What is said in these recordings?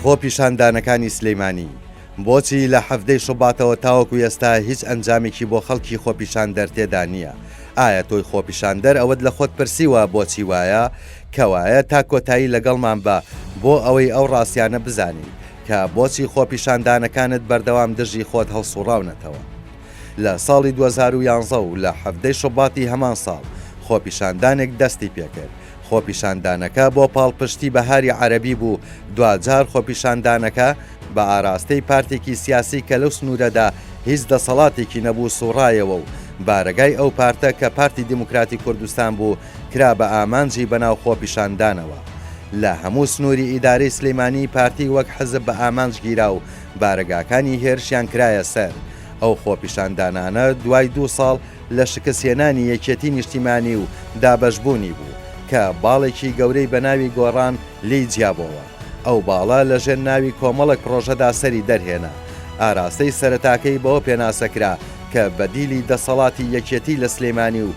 خۆپیشاندانەکانی سلیمانی بۆچی لە حەڤدەی شوباتەوە تاوەکو ئێستا هیچ ئەنجامێکی بۆ خەڵکی خۆپیشاندەر تێدا نییە ئایا تۆی خۆپیشاندەر ئەوەت لە خۆت پرسیوە بۆچی وایە؟ کەوایە تا کۆتایی لەگەڵمان بە بۆ ئەوەی ئەو ڕاستیانە بزانیت کە بۆچی خۆپیشاندانەکانت بەردەوام دژی خۆت هەڵسوڕاونەتەوە؟ لە ساڵی دوو هەزار و یازدە و لە حەڤدە ی شوباتی هەمان ساڵ خۆپیشاندانێک دەستی پێکرد، خۆپیشاندانەکە بۆ پاڵپشتی بەهاری عەرەبی بوو، دواجار خۆپیشاندانەکە بە ئاراستەی پارتێکی سیاسی کە لەو سنوورەدا هیچ دەسەڵاتێکی نەبوو سوڕایەوە و بارەگای ئەو پارتە کە پارتی دیموکراتی کوردستان بوو کرا بە ئامانجی بەناو خۆپیشاندانەوە لە هەموو سنوری ئیدارەی سلیمانی پارتی وەک حزب بە ئامانج گیرا و بارەگاکانی هێرشیان کرایە سەر ئەو خۆپیشاندانانە دوای دوو ساڵ لە شکست هێنانی یەکێتی نیشتیمانی و دابەش بوونی بوو کە باڵێکی گەورەی بە ناوی گۆڕان لێی جیابۆوە ئەو باڵە لە ژێر ناوی کۆمەڵک پرۆژەدا سەری دەرهێنا ئاراستەی سەرەتاکەی بەوە پێناسە کرا کە بەدیلی دەسەڵاتی یەکێتی لە سلیمانی و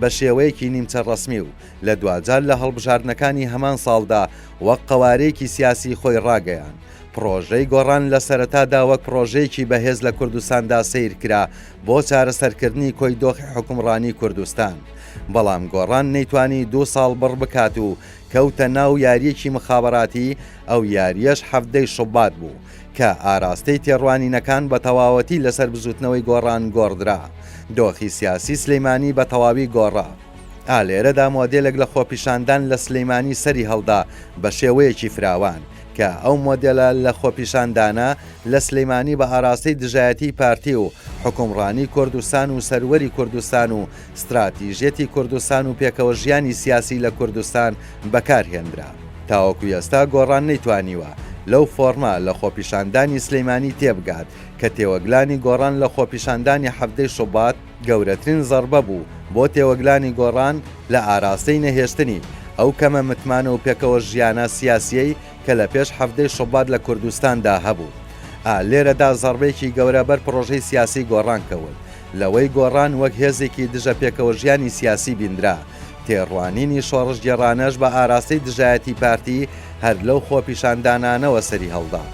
بە شێوەیەکی نیمچە ڕەسمی و لە دواجار لە هەڵبژاردنەکانی هەمان ساڵدا وەک قەوارەیەکی سیاسی خۆی ڕاگەیاند. پڕۆژەی گۆڕان لە سەرەتادا وەک پڕۆژەیەکی بەهێز لە کوردستاندا سەیر کرا بۆ چارەسەرکردنی کۆی دۆخی حوکمڕانی کوردستان، بەڵام گۆڕان نەیتوانی دوو ساڵ بڕ بکات و کەوتە ناو یارییەکی مخابەراتی، ئەو یارییەش حەڤدەی شوبات بوو. کە ئاراستەی تێڕوانینەکان بە تەواوەتی لەسەر بزووتنەوەی گۆڕان گۆڕدرا، دۆخی سیاسی سلیمانی بە تەواوی گۆڕا. ئا لێرەدا مۆدێلێک لە خۆپیشاندان لە سلیمانی سەری هەڵدا بە شێوەیەکی فراوان، کە ئەو مۆدێلە لە خۆپیشاندانە لە سلیمانی بە ئاراستەی دژایەتیی پارتی و حوکمڕانی کوردستان و سەروەری کوردستان و ستراتیژیەتی کوردستان و پێکەوە ژیانی سیاسی لە کوردستان بەکار هێنرا. تاوەکو ئێستا گۆڕان نەیتوانیوە لەو فۆڕمە لە خۆپیشاندانی سلیمانی تێبگات کە تێوەگلانی گۆڕان لە خۆپیشاندانی حەڤدەی شوبات، گەورەترین زەڕبە بوو بۆ تێوەگلانی گۆڕان لە ئاراستەی نەهێشتنی ئەو کەمە متمانە و پێکەوە ژیانە سیاسیەی کە لە پێش حەڤدەی شوبات لە کوردستان دا هەبوو. ئا لێرە دا زەڕبەیەکی گەورە بەر پڕۆژەی سیاسیی گۆڕان کەوت. لەوەی گۆڕان وەک هێزێکی دژە پێکەوەژیانی سیاسی بیندرا، تێڕوانینی شۆڕشگێڕانەش بە ئاراستەی دژایەتیی پارتی هەر لەو خۆپیشاندانانەوە سەری هەڵدا.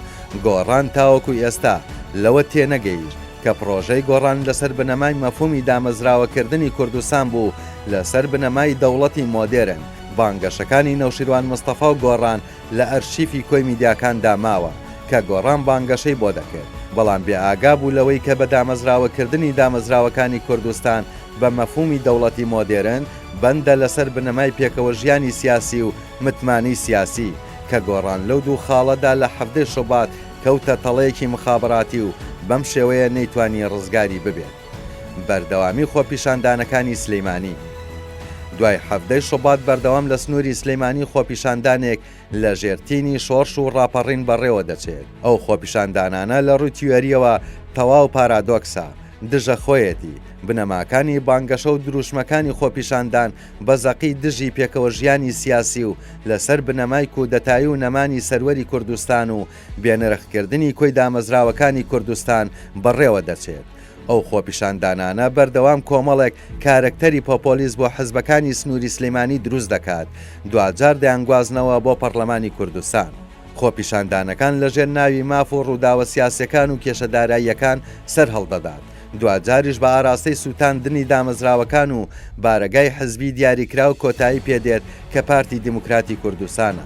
گۆڕان تاوەکو ئێستا لەوە تێ نەگەیشت کە پڕۆژەی گۆڕان لە سەر بنەمای مەفهوومی دامەزراوەکردنی کوردستان بوو لە سەر بنەمای دەوڵەتی مۆدێرن، بانگەشەکانی نەوشیروان مستەفا و گۆڕان لە ئەرشیفی کۆی میدیاکاندا ماوە، کە گۆڕان بانگەشەی بۆ دەکرد، بەڵام بێ ئاگا بوو لەوەی کە بە دامەزراوەکردنی دامەزراوەکانی کوردستان بە مەفهومی دەوڵەتی مۆدێرن بەندە لەسەر بنەمای پێکەوەژیانی سیاسی و متمانەی سیاسی، کە گۆڕان لەو دوو خاڵەدا لە حەڤدەی شوبات کەوتە تەڵەیەکی مخابەراتی و بەم شێوەیە نەیتوانی ڕزگاری ببێت. بەردەوامی خۆپیشاندانەکانی سلیمانی دوای حەڤدەی شوبات بەردەوام لە سنوری سلیمانی خۆپیشاندانێک لە ژێر تینی شۆرش و ڕاپەڕین بەڕێوە دەچێت ئەو خۆپیشاندانانە لە ڕوی تیۆریەوە تەواو پارادۆکسە دژە خۆیەتی بنەماکانی بانگەشە و دروشمەکانی خۆپیشاندان بە زەقی دژی پێکەوە ژیانی سیاسی و لەسەر بنەمای کودەتایی و نەمانی سەروەری کوردستان و بێنرخکردنی کۆی دامەزراوەکانی کوردستان بەڕێوە دەچێت. ئەو خۆپیشاندانانە بەردەوام کۆمەڵێک کارەکتەری پۆپۆلیست بۆ حزبەکانی سنووری سلیمانی دروست دەکات، دواجار دەیانگوازنەوە بۆ پەڕلەمانی کوردستان. خۆپیشاندانەکان لەژێر ناوی ماف و ڕووداوە سیاسیەکان و کێشە داراییەکان سەرهەڵدەدات، دواجاریش بە ئاراستەی سووتاندنی دامەزراوەکان و بارەگای حزبی دیاریکراو کۆتایی پێدێت کە پارتی دیموکراتی کوردستانە.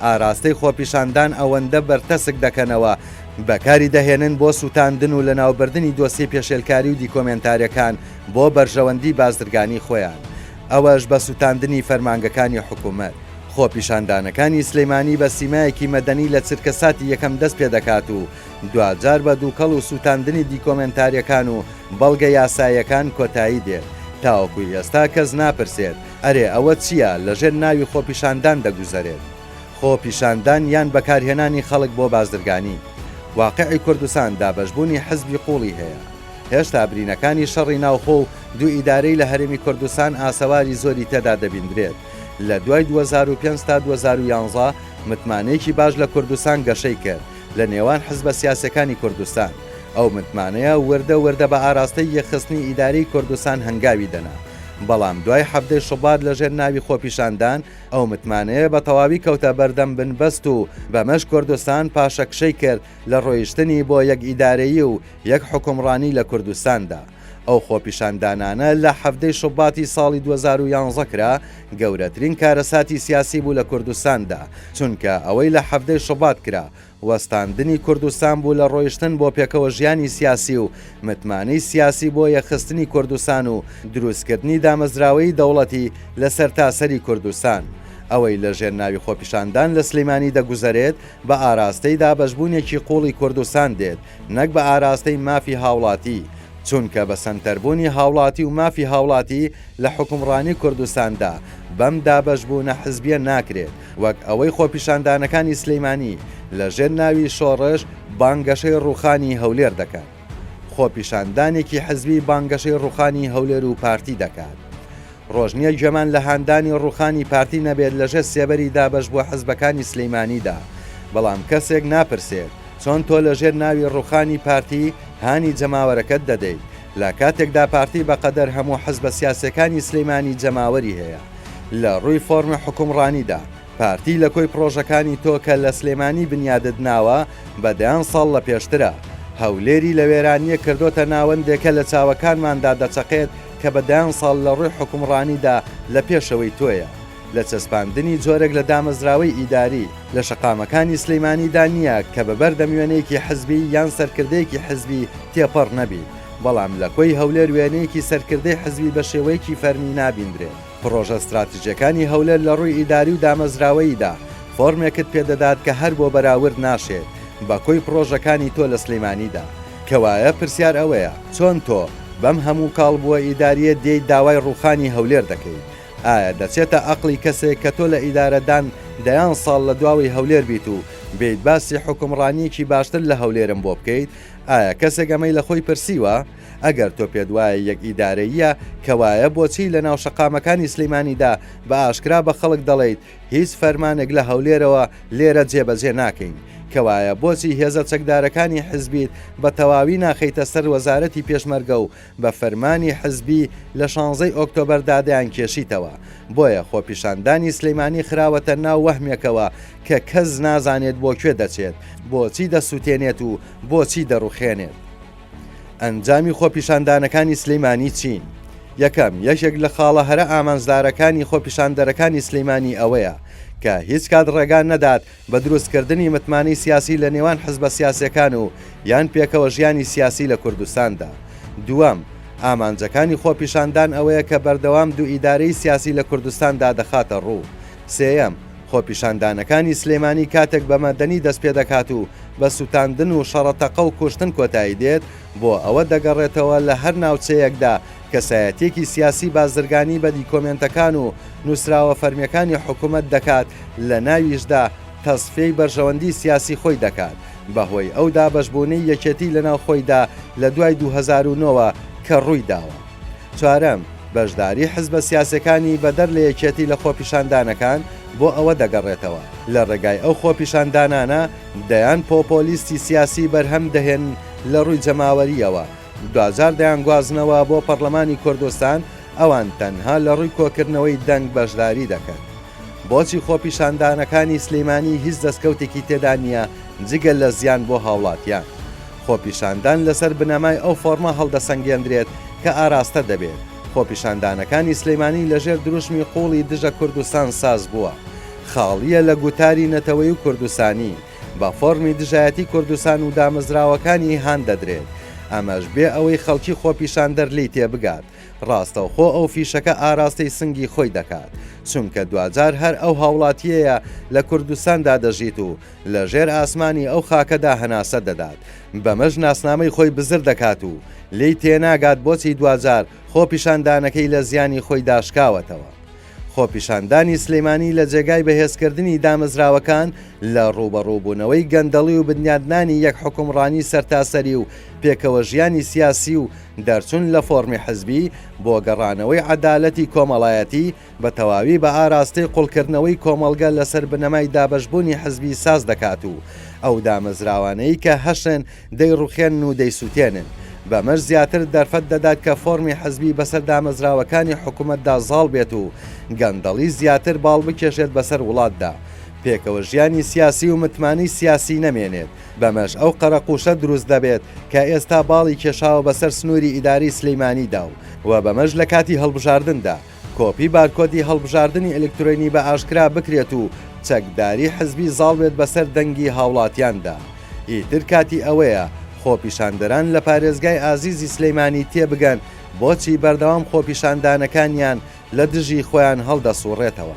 ئاراستەی خۆپیشاندان ئەوەندە بەرتەسک دەکەنەوە، بەکاری دەهێنن بۆ سووتاندن و لەناوبردنی دۆسیەی پێشێلکاری و دیکۆمێنتارەکان بۆ بەرژەوەندی بازرگانی خۆیان، ئەوەش بە سووتاندنی فەرمانگەکانی حکوومەت. خۆپیشاندانەکانی سلێمانی بە سیمایەکی مەدەنی لە چرکەساتی یەکەم دەست پێ دەکات و دواجار بە دووکەڵ و سووتاندنی دیکۆمێنتارییەکان و بەڵگە یاساییەکان کۆتایی دێت، تاوەکو ئێستا کەس ناپرسێت ئەرێ ئەوە چیە لەژێر ناوی خۆپیشاندان دەگوزەرێت؟ خۆ پیشاندان یان بەکارهێنانی خەڵک بۆ بازرگانی؟ واقعی کوردستان دابەشبوونی حزبی قوڵی هەیە. هێشتا برینەکانی شەڕی ناوخۆ و دوو ئیدارەی لە هەرێمی کوردستان ئاسەواری زۆری تێدا دەبیندرێت. لە دوای دوو هەزار و پێنج تا دوو هەزار و یانزە متمانەیەکی باش لە کوردستان گەشەی کرد لە نێوان حزبە سیاسیەکانی کوردستان. ئەو متمانەیە وردە وردە بە ئاراستەی یەکخستنی ئیدارەی کوردستان هەنگاوی دەنا. بەڵام دوای حەڤدەی شوبات لەژێر ناوی خۆپیشاندان ئەو متمانەیە بە تەواوی کەوتە بەردەم بنبەست و بەمەش کوردستان پاشەکشەی کرد لە ڕۆیشتنی بۆ یەک ئیدارەیی و یەک حوکمڕانی لە کوردستاندا ئەو خۆپیشاندانانە لە حەڤدەی شوباتی ساڵی دوو هەزار و یانزە کرا گەورەترین کارەساتی سیاسی بوو لە کوردستاندا چونکە ئەوەی لە حەڤدەی شوبات کرا وەستاندنی کوردستان بوو لە ڕۆیشتن بۆ پێکەوە ژیانی سیاسی و متمانەی سیاسی بۆ یەکخستنی کوردستان و دروستکردنی دامەزراوەیی دەوڵەتی لە سەرتاسەری کوردستان ئەوەی لە ژێر ناوی خۆپیشاندان لە سلیمانی دەگوزەرێت بە ئاراستەی دابەشبوونێکی قوڵی کوردستان دێت نەک بە ئاراستەی مافی هاوڵاتی چونکە بە سەنتەربوونی هاوڵاتی و مافی هاوڵاتی لە حوکمڕانی کوردستاندا بەم دابەشبوونە حزبیە ناکرێت وەک ئەوەی خۆپیشاندانەکانی سلیمانی لە ژێر ناوی شۆڕش بانگەشەی ڕوخانی هەولێر دەکەن خۆپیشاندانێکی حزبی بانگەشەی ڕوخانی هەولێر و پارتی دەکات ڕۆژ نیە گوێمان لە هاندانی ڕوخانی پارتی نەبێت لە ژێر سێبەری دابەش بووە حزبەکانی سلیمانیدا بەڵام کەسێک ناپرسێت چۆن تۆ لە ژێر ناوی ڕوخانی پارتی هانی جەماوەرەکەت دەدەیت لە کاتێکدا پارتی بەقەدەر هەموو حزبە سیاسیەکانی سلیمانی جەماوەری هەیە. لە ڕووی فۆرمی حوکمڕانیدا، پارتی لە کۆی پڕۆژەکانی تۆ کە لە سلێمانی بنیادت ناوە بە دەیان ساڵ لە پێشترە. هەولێری لە وێرانییەک کردۆتە ناوەندێک کە لە چاوەکانماندا دەچەقێت کە بە دەیان ساڵ لە ڕووی حوکمڕانیدا لە پێشەوەی تۆیە لە چەسپاندنی جۆرێک لە دامەزراوەی ئیداری لە شەقامەکانی سلیمانیدا نییە کە بە بەردەم وێنەیەکی حزبی یان سەرکردەیەکی حزبی تێپەڕ نەبیت. بەڵام لە کۆی هەولێر وێنەیەکی سەرکردەی حزبی بە شێوەیەکی فەرمی نابیندرێت. پڕۆژە ستراتیجیەکانی هەولێر لە ڕووی ئیداری و دامەزراوەییدا فۆرمێکت پێ دەدات کە هەر بۆ بەراورد ناشێت بە کۆی پڕۆژەکانی تۆ لە سلیمانیدا. کەوایە پرسیار ئەوەیە چۆن تۆ بەم هەموو کاڵبووە ئیداریە دێیت داوای ڕووخانی هەولێر دەکەیت؟ ئایا دەچێتە ئەقڵی کەسێک کە تۆ لە ئیدارەدان دەیان ساڵ لە دواوەی هەولێر بیت و بێیت باسی حوکمڕانیەکی باشتر لە هەولێرم بۆ بکەیت؟ ئایا کەسێک ئەمەی لە خۆی پرسیوە؟ ئەگەر تۆ پێت وایە یەک ئیدارەییە کەوایە بۆچی لە ناو شەقامەکانی سلیمانیدا بە ئاشکرا بە خەڵک دەڵێیت هیچ فەرمانێک لە هەولێرەوە لێرە جێبەجێ ناکەین؟ کەوایە بۆچی هێزە چەکدارەکانی حزبیت بە تەواوی ناخەیتە سەر وەزارەتی پێشمەرگە و بە فەرمانی حزبی لە شانزەی ئۆکتۆبەردا دەیانکێشیتەوە، بۆیە خۆپیشاندانی سلیمانی خراوەتە ناو وەهمێکەوە کە کەس نازانێت بۆ کوێ دەچێت، بۆچی دەسوتێنێت و بۆچی دەڕوخێنێت؟ ئەنجامی خۆپیشاندانەکانی سلیمانی چین؟ یەکەم، یەکێک لە خاڵە هەرە ئامانجدارەکانی خۆپیشاندەرەکانی سلیمانی ئەوەیە کە هیچکات ڕێگا نەدات بە دروستکردنی متمانەی سیاسی لە نێوان حزبە سیاسیەکان و یان پێکەوە ژیانی سیاسی لە کوردستاندا. دووەم، ئامانجەکانی خۆپیشاندان ئەوەیە کە بەردەوام دوو ئیدارەی سیاسی لە کوردستان دا دەخاتە ڕوو. سێیەم، خۆپیشاندانەکانی سلێمانی کاتێک بە مەدەنی دەست پێ دەکات و بە سوتاندن و شەڕە تەقە و کوشتن کۆتایی دێت، بۆ ئەوە دەگەڕێتەوە لە هەر ناوچەیەکدا کەسایەتیەکی سیاسی بازرگانی بە دیکۆمێنتەکان و نوسراوە فەرمیەکانی حکومەت دەکات لە ناویشدا تەسفیەی بەرژەوەندی سیاسی خۆی دەکات بە هۆی ئەو دابەشبونەی یەکێتی لە ناو خۆیدا لە دوای دوو هەزار و نۆ وە کە ڕووی داوە. چوارەم، بەشداری حزبە سیاسەکانی بە دەر لە یەکێتی لە خۆپیشاندانەکان بۆ ئەوە دەگەڕێتەوە لە ڕێگای ئەو خۆپیشاندانانە دەیان پۆپۆلیستی سیاسی بەرهەم دەهێنن لە ڕووی جەماوەریەوە، دوجار دەیانگوازنەوە بۆ پەڕلەمانی کوردستان، ئەوان تەنها لە ڕووی کۆکردنەوەی دەنگ بەشداری دەکەن. بۆچی خۆپیشاندانەکانی سلیمانی هیچ دەستکەوتێکی تێدا نیە جگە لە زیان بۆ هاوڵاتیان؟ خۆپیشاندان لەسەر بنەمای ئەو فۆڕمە هەڵدەسەنگێندرێت کە ئاراستە دەبێت، خۆپیشاندانەکانی سلیمانی لەژێر دروشمی قوڵی دژە کوردستان ساز بووە. خاڵیە لە گوتاری نەتەوەی و کوردستانی. بە فۆرمی دژایەتی کوردستان و دامەزراوەکانی هان دەدرێت، ئەمەش بێ ئەوەی خەڵکی خۆپیشاندەر لێی تێبگات، ڕاستەوخۆ ئەو فیشەکە ئاراستەی سنگی خۆی دەکات، چونکە دواجار هەر ئەو هاوڵاتییەیە لە کوردستاندا دەژیت و لە ژێر ئاسمانی ئەو خاکەدا هەناسە دەدات، بەمەش ناسنامەی خۆی بزر دەکات و لێی تێناگات بۆچی دواجار خۆپیشاندانەکەی لە زیانی خۆیدا شکاوەتەوە. خۆپیشاندانی سلێمانی لە جێگای بەهێزکردنی دامەزراوەکان لە ڕووبەڕووبوونەوەی گەندەڵی و بنیادنانی یەک حوکمڕانی سەرتاسەری و پێکەوەژیانی سیاسی و دەرچوون لە فۆڕمی حزبی بۆ گەڕانەوەی عەدالەتی کۆمەڵایەتی بە تەواوی بە ئاراستەی قوڵکردنەوەی کۆمەڵگە لەسەر بنەمای دابەشبوونی حزبی ساز دەکات و ئەو دامەزراوانەی کە هەشێن دەیڕوخێنن و دەیسوتێنن. بەمەش زیاتر دەرفەت دەدات کە فۆرمی حزبی بەسەر دامەزراوەکانی حکومەتدا زاڵ بێت و گەندەڵی زیاتر باڵ بکێشێت بەسەر وڵاتدا، پێکەوە ژیانی سیاسی و متمانەی سیاسی نەمێنێت، بەمەش ئەو قەرەقوشە دروست دەبێت کە ئێستا باڵی کێشاوە بەسەر سنوری ئیدارەی سلیمانیدا و بەمەش لەکاتی هەڵبژاردندا کۆپی بارکۆدی هەڵبژاردنی ئەلکترۆینی بە ئاشکرا بکرێت و چەکداری حزبی زاڵ بێت بەسەر دەنگی هاوڵاتیاندا. ئیتر کاتی ئەوەیە خۆپیشاندەران لە پارێزگای ئازیزی سلیمانی تێبگەن بۆچی بەردەوام خۆپیشاندانەکانیان لە دژی خۆیان هەڵدەسوڕێتەوە.